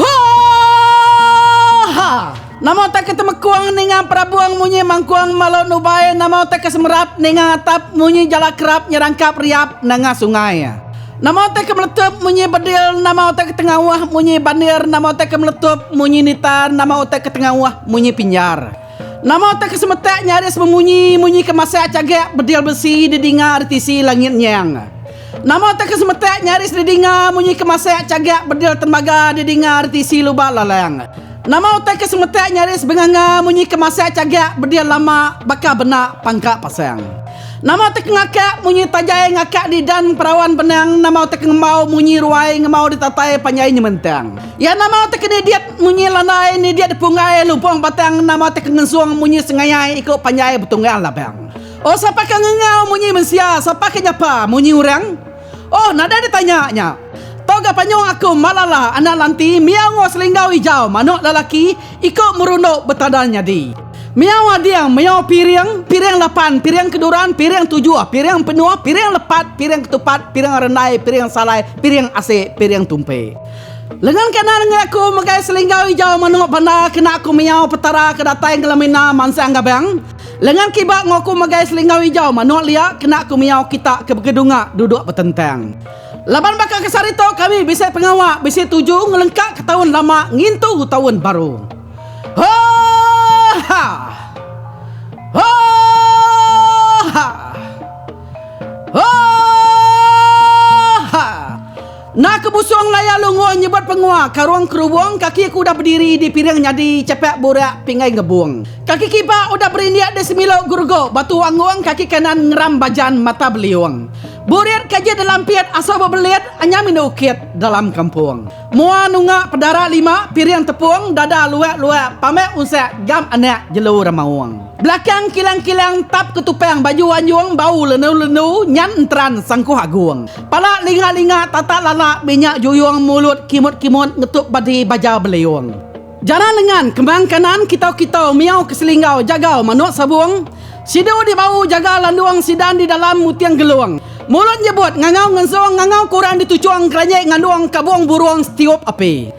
Hooooha! Nama utai ke temekung ninga perabung munyi mangkung malu nubai nama utai ke semerap ninga atap munyi jala kerap nyerangkap riap nanga sungai nama utai ke meletup munyi bedil nama utai ke tengauh munyi bandir nama utai ke meletup munyi nita nama utai ke tengauh munyi pinjar. Nama utai ke semetak nyaris memunyi munyi ke masak chagak bedil besi di dinga ari tisi langit nyang? Nama utai ke semetak nyaris di dinga munyi ke masak chagak bedil tembaga di dinga ari tisi lubak lalang? Nama utai ke semetak nyaris benganga munyi ke masak chagak bedil lama baka benak pangka pasang? Nama utai ke ngakak munyi tajai ngakak di dan perawan benang nama utai ke ngembau munyi ruai ngembau di tatai panjai nyemantang? Ya nama utai ke nidit Munyi landai ni dia dipunggai lubong batang nama ti kengenzung munyi sengaiyai iku panjai betunggal labang. Oh sapa ke ngengau munyi mensia sapa ke nyapa munyi urang? Oh nadai ditanya nya. Tau ga panyuh aku Malala anak lanti miau ngo selinggau ijau manuk lalaki iku merunduk betadal nyadi. Miau ading miau piring, piring lapan, piring keduran, piring tujuh, piring penuh, piring lepat, piring ketupat, piring rendai, piring salai, piring asik, piring tumpi. Lengan kanan ngeri aku megai selinggau ijau manuk banda kena aku miyau Petara ke datai ngelemina mansang gabang. Lengan kiba enggau aku megai selinggau ijau manuk lia kena aku miyau kita ke begedunga duduk betentang. Laban baka ke sehari tu kami bisi pengawa bisi tuju ngelengkaka taun lama ngintu taun baru. Hooh ha. Hooh ha. Hooh ha. Enda ke busung laya lunggu nyebut pengua karung kerubung kaki aku udah bediri di piring nyadi chapak burak pinggai ngebung. Kaki kiba udah berindik di semilok gerugok batu anggung kaki kanan ngeram bajan mata beliung. Burit kaji delampit asal bebelit anyam indu ukit dalam kampung. Mua nunga pedara lima piring tepung dada luak luak pamai unsak gam anak jelu ramaung. Belakang kilang kilang tap ketupang baju anjung bau lendu lendu nyan enteran sangkuh agung. Pala linga-linga tatak lala minyak juyung mulut kimut-kimut ngetup badi baja beliung. Jana lengan kembang kanan kitau-kitau miau ke selinggau jagau manuk sabung. Sidu di bau jaga landung sidan di dalam muting gelung. Mulut nyebut ngangau ngenzung ngangau kurang dituchung keranjit ngandung kabung burung setiup api.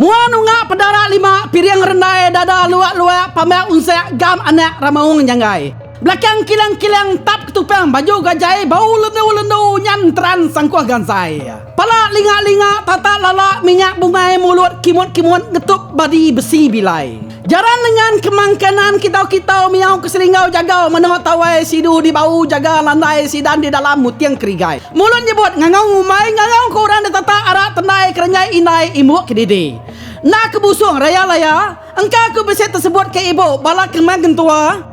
Mua nunga pedara lima piring rendai dada luak luak pamah unsak gam anak ramaung nyanggai. Belakang kilang kilang entap ketupang baju gajai bau lendu lendu nyan teran sangkuh gansai. Pala linga linga tata lala minyak bungai mulut kimut kimut ngetup badi besi bilai. Jaran nengan kemang kanan kitau kitau miau ke selinggau jagau menoh tawai sidu di bau jaga landai sidan di dalam muting kerigai. Mulut nyebut ngangau ngumbai ngangau ke orang detatak arak tendai kerenjai indai imbuk kedidi. Enda ke busung raya laya, engka ku bisi tesebut ke ibu bala kemang kentua.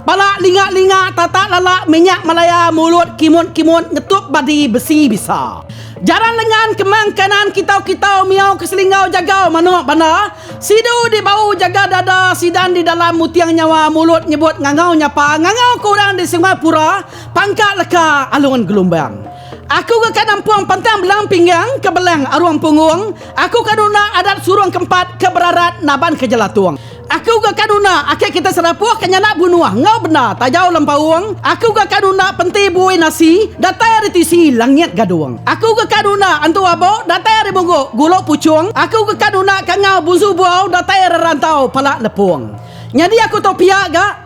Bala linga-linga tatak lala minyak Malaya mulut kimut-kimut ngetup badi besi bisa. Jaran lengan kemang kanan kitau-kitau miau ke selinggau jagau manok banda, sidu di bau jaga dada sidan di dalam muting nyawa mulut nyebut ngangau nyapa ngangau ke orang di Sungai Pura, Pangka Leka, Alun Gelumbang. Aku ke ka nampung pantang belang pinggang ke belang arung punggung, aku ka nunda adat surung kempat ke berarat naban ke jelatung. Aku ga ka nuna ake kita serapuh ka nyana bunuh enggau benda tajau lempaung, aku ga ka nuna penti bui nasi datai ari tisi langit gadung. Aku ga ka nuna antu abo datai ari muguk gulu puchung, aku ga ka nuna kangau bunsu buau datai ari rantau pala lepung. Nyadi aku tau pia ga.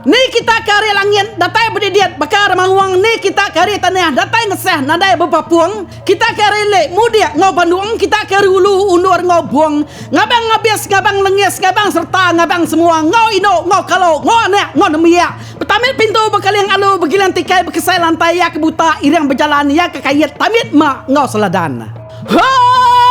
Ni kita ke ari langit, datai bedidit, baka ari mangung, ni kita ke ari tanah, datai ngesah, nadai bepapung, kita ke ari lik, mudik, enggau bandung, kita ke ari ulu, undur, enggau bung, ngabang ngabis, ngabang lengis, ngabang sereta, ngabang semua, enggau indu, enggau kalu, enggau anak, enggau nembiak, betamit pintu, bekaling alu, begiling tikai, bekesai lantai, iya ke buta, iring bejalan, iya ke kait, tamit mak, enggau seladan. Haaahh.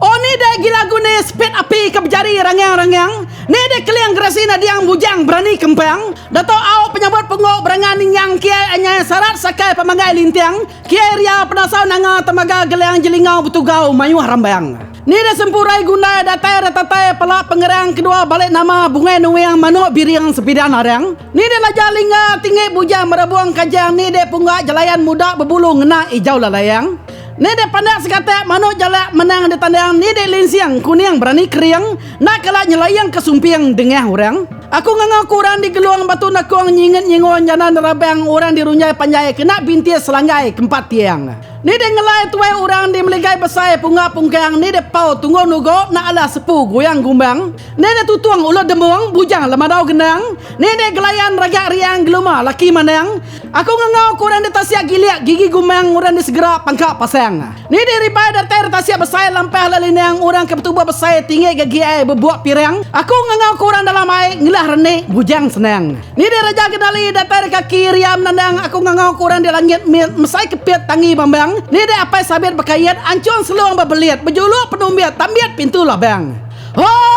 Oh ni deh agi lagu ne Spit api ke bejari rangyang rangyang Ni deh keling geresi nadiang bujang berani kempang Dato Au penyabut punggu berangan ningyang Kiai anyai sarat sakai pemanggai linting Kiai ria penasau nanga temaga geling jelingau betugau mayuh rambang Ni deh sempurai gundai datai retatai pala pengerang kedua balik nama bungai nuing manuk biring sepidan arang Ni deh laja lingga tinggi bujang merabung kajang Ni deh pungga jelayan muda bebulu ngena ijau lalaing Ni dek pandak segatak manuk jalak menang ditandang ni dek linsing kuning berani kering nak kala nyelaing ke sumping dengah orang. Aku nganga ku orang digelung batu nakung nyinget nyingun jana nerabang orang dirunjai panjai kena bintis selanggai ke empat tiang. Ni dek ngelai tuai orang di meligai besai punga pungkang ni dek pau tunggong nugok nak alah sepu goyang gumbang ni dek tutung ulut dembong bujang lemadau genang ni dek gelayan ragak riang geluma laki manang Aku ngengau ku orang di tasia gilik gigi gumang orang di segera pangka pasang. Ni di ribai datai ri tasia besai lampah la linang orang ke betubuh besai tinggi gagi ai bebuk pirang. Aku ngengau ku orang dalam ai ngelah reni bujang senang. Ni di reja genali datai ri kaki ria menandang aku ngengau ku orang di langit mit mesai kepit tangi bambang. Ni di apai sabit bekait anchung selung bebelit bejuluk penumbit tambit pintu labang. Hooh.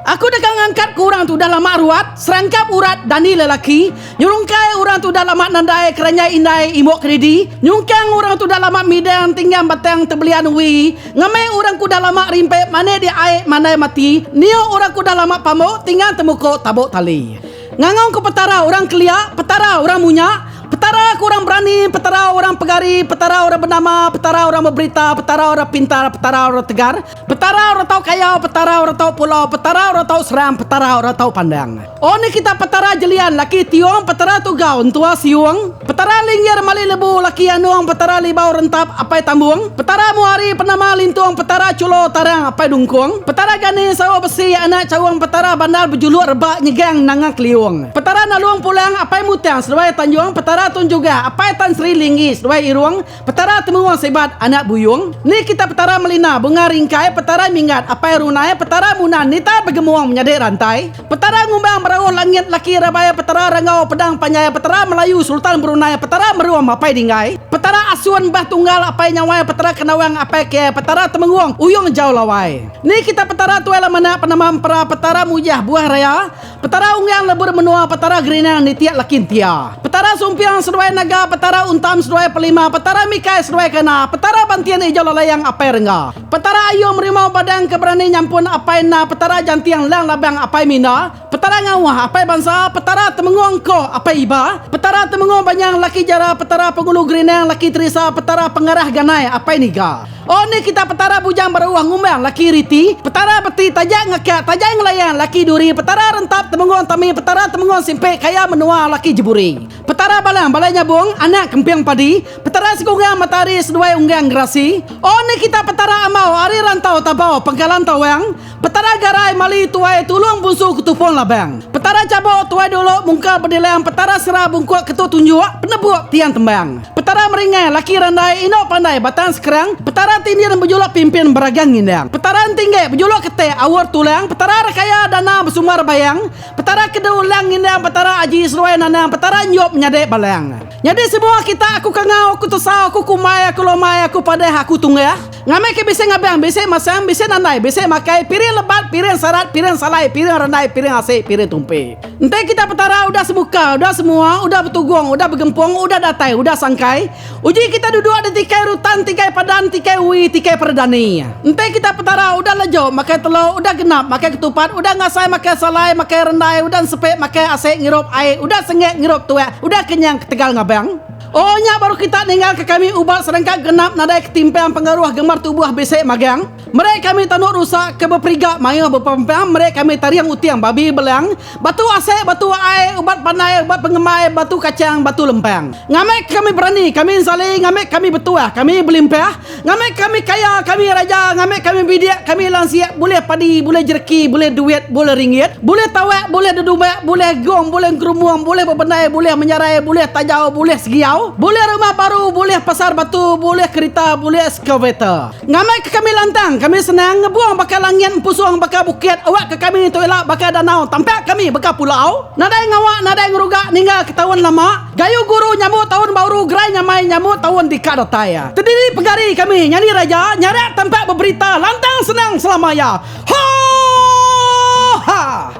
Aku deka ngangkatka orang tu udah lama ruat, serangkap urat dani lelaki, nyerungkai orang tu udah lama nadai keranjai indai imbok kedidi, nyungkang orang tu udah lama midang tinggang batang tebelian uwi, ngamai orang ke udah lama rimpit manik di ai mandai mati, niuk orang ke udah lama pamuk tinggang temukuk tabuk tali. Ngangau ke Petara orang kelia, Petara orang munya, Petara ke orang berani, Petara orang pegari, Petara orang benama, Petara orang beberita, Petara orang pintar, Petara orang tegar, Petara orang tau kayau, Petara orang tau pulau, Petara orang tau seram, Petara orang tau pandang. O ni kita Petara Jelian, laki Tiong, Petara Tugau, Entua Siong. Petara linggir mali lebu laki anung petara libau rentap apai tambung petara muari penama lintung petara chulo tarang apai dungkung petara gani sawa besi anak chaung petara bandar bejuluk rebak nyegang nanga keliung petara nalung pulang apai mutang seduai tanjung petara tun jugah apai tan sri linggi seduai irung Petara temuung sebat anak buyung ni kita petara melina bunga ringkai petara minggat apai runai petara munan nita begemuung menyadi rantai petara ngumbang berauh langit laki rabai petara ranggau pedang panjai petara melayu sultan berunai petara merum apai dinggai petara asun bah tunggal apai nyawai petara kenawang apai kiai petara temengung uyung jau lawai ni kita petara tuai lamana penama empera petara mujah buah raya Petara Unggang Lebur Menua Petara Gerinang Nitiak Lakin Tia Petara Sumpiang Seduai Naga Petara Untam Seduai Pelima Petara Mikai Seduai Kana Petara Bantian Ijau Lalayang Apai Rengga Petara Ayung Merimau Badang Ke Berani Nyampun Apai Enda Petara Janting Lang Labang Apai Minda Petara Ngauh Apai Bansa Petara Temengoh Engko Apai Iba Petara Temengoh Banyang Laki Jara Petara Pengulu Gerinang Laki Terisa Petara Pengarah Ganai Apai Niga. Oh ni kita Petara bujang baruh ngumbang laki riti Petara beti taja ngakak tajai ngelayan laki duri Petara rentap temenggong tami Petara temenggong simpik kaya menua laki jeburi Petara balang balai nyabung anak kemping padi Petara sekunggang matahari seduai unggang gerasi Oh ni kita Petara amau ari rantau tabau pengkalan tawang Petara garai mali tuai tulung bunsu ketupung labang. Petara cabuk tuai dulu mungka bedilang petara sera bungkuk ketu tunjuk penebuk tiang tembang. Petara meringai laki randai indu pandai batang sekerang petara tindin bejuluk pimpin beragang ngindang. Petara entinggik bejuluk ketik aur tulang petara rekaya dana besumbar bayang petara kedu lang ngindang petara aji seruai nanang petara enjuk menyadi balang. Nyadi semua kita aku kangau aku tesau aku kumbai aku lomai aku padah aku tunggah. Ngambika bisi ngabang, bisi masang, bisi nandai, bisi makai, piring lebat, piring sarat, piring salai, piring randai, piring asik, piring tumpi. Enti kitai Petara udah semuka, udah semua, udah betugung, udah begempung, udah datai, udah sangkai, uji kitai duduk di tikai rutan, tikai padan, tikai ui, tikai peredani. Enti kitai Petara udah lejuk, makai telok, udah genap, makai ketupat, udah ngasai makai salai, makai rendai, udah nsepik makai asik ngirup ai, udah sengik ngirup tuak, udah kenyang ketegal ngabang. O nya baru kita ninggalka kami ubat serengkak genap nadai ketimpang pengaruh gemar tubuh bisi magang, meri kami tanu rusa ke beperiga mayuh bepempang meri kami taring uting babi belang, batu asik, batu ai, ubat pandai, ubat pengemai, batu kachang, batu lempang. Ngambika kami berani, kami ensali, ngambika kami betuah, kami belimpah, Ngambi kami kaya, kami raja, ngambi kami bidik, kami lansik, bulih padi, bulih jereki, bulih duit, bulih ringgit, bulih tawak, bulih dedumbak, bulih gong, bulih engkerumung, bulih bebendai, bulih menyarai, bulih tajau, bulih segiau, bulih rumah baru, bulih pasar batu, bulih kerita, bulih excavator. Ngambi ke kami lantang, kami senang, ngebung baka langit, empusung baka bukit, awak ke kami tu ila baka danau, tampak kami baka pulau, nadai ngawa, nadai ngeruga ninggal ke taun lama. Gayu guru nyambut taun bauru gerai nyamai nyambut taun ti ka datai iya. Tediri pegari kami nyadi raja nyarak tampak beberita lantang senang selama iya. Hooh hah.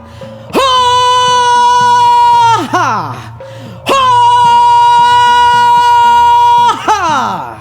Hooh hah. Hooh hah.